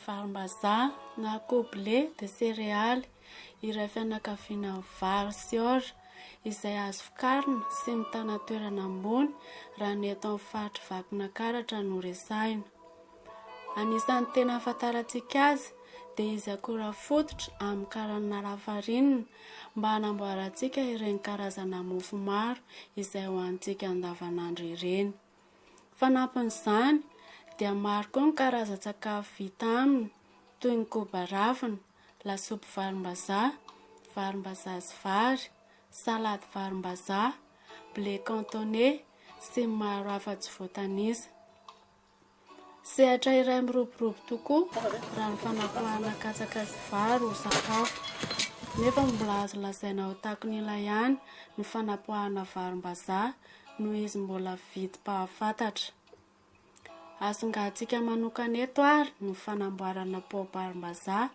Varimbazaha na akoho blé dia serealy iray fianakaviana amin'ny vary sy orge izay azo vokarina sy mitana toerana ambony raha ny eto amin'ny faritry Vakinankaratra no resahina. Anisan'ny tena ahafantarantsika azy dia izy akora fototra amin'ny karanana lafarinina mba hanamboarantsika ireny karazana mofo maro izay hohanintsika andavanandro ireny. Fanampin'izany dia maro koa ny karazan-tsakafo vita aminy toy ny koba ravina, lasopy varimbazaha, varimbazaha sy vary, salady varimbazaha, blé cantonais sy ny maro hafa tsy voatanisa. Sehatra iray miroborobo tokoa raha ny fanapoahana katsaka sy vary ho sakafo. Nefa mbola azo lazaina ho takon'ila ihany ny fanapoahana varimbazaha noho izy mbola vidim-pahafantatra. Asongaantsika manokana eto ary ny fanamboarana paobarim-bazaha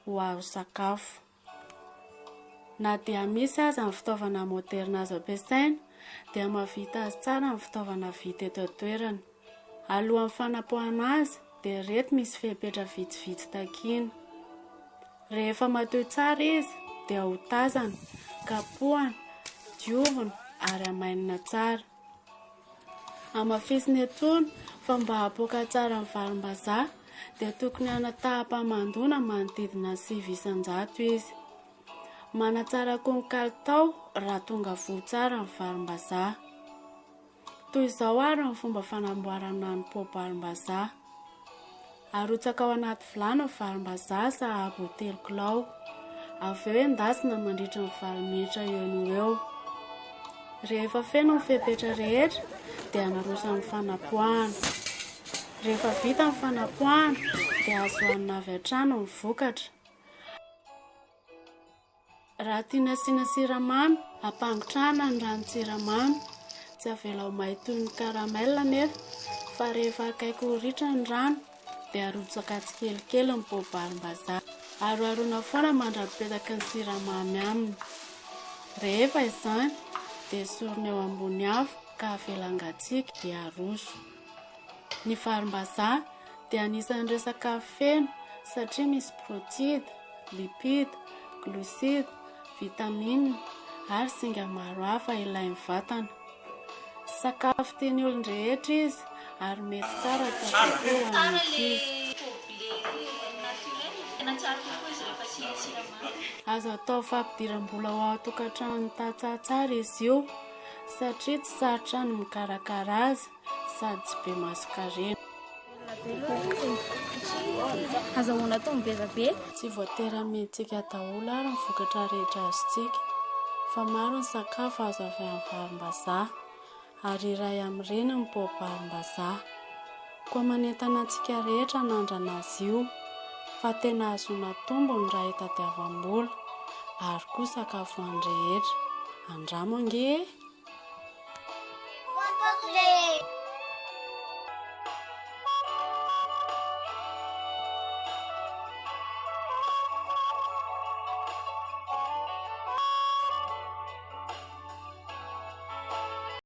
ho azo sakafo. Na dia misy aza ny fitaovana moderina azo ampiasaina, dia mahavita azy tsara ny fitaovana vita eto an-toerana. Alohan'ny fanapoahana azy, dia ireto misy fepetra vitsivitsy takiana. Rehefa matoy tsara izy, dia hotazana, kapohana, diovina ary hamainina tsara. Hamafisina intsony fa mba hahapoaka tsara ny varimbazaha dia tokony hanataham-pamandoana manodidina ny sivy isan-jato izy. Manatsara koa ny kalitao raha tonga voa tsara ny varimbazaha. Toy izao ary ny fomba fanamboarana ny poa-barimbazaha. Arotsaka ao anaty vilany ny varimbazaha sahabo ho telo kilao. Avy eo endasina mandritra ny valo minitra eo no ho eo. Rehefa feno ny fepetra rehetra dia naroso amin'ny fanapoahana. Rehefa vita ny fanapoahana dia azo hanina avy hatrany ny vokatra. Raha tiana asiana siramamy, ampangotrahana ny ranon-tsiramamy. Tsy avela ho may toy ny caramel anefa fa rehefa akaiky ho ritra ny rano dia arotsaka tsikelikely ny poa-barimbazaha. Aroharoina foana mandra-pipetaky ny siramamy aminy. Rehefa izany dia esorina eo ambony afo ka avela hangatsiaka dia aroso. Ny varimbazaha dia anisan'ireo sakafo feno satria misy protide, lipide, glucide, vitamine ary singa maro hafa ilain'ny vatana. Sakafo tian'ny olon-drehetra izy ary mety tsara atao kokoa ho an'ny ankizy. Azo atao fampidiram-bola ho ao an-tokantrano ny tantsaha tsara izy io. satria tsy sarotra ny mikarakara azy sady tsy be masonkarena. Azahoana taom be dia be. Tsy voatery amentsika daholo ary ny vokatra rehetra azontsika fa maro ny sakafo azo avy amin'ny varimbazaha ary iray amin'ireny ny poa-barimbazaha. Koa manentana antsika rehetra hanandrana azy io fa tena ahazoana tombony raha itadiavam-bola ary koa sakafo an'ny rehetra. Andramo ange e!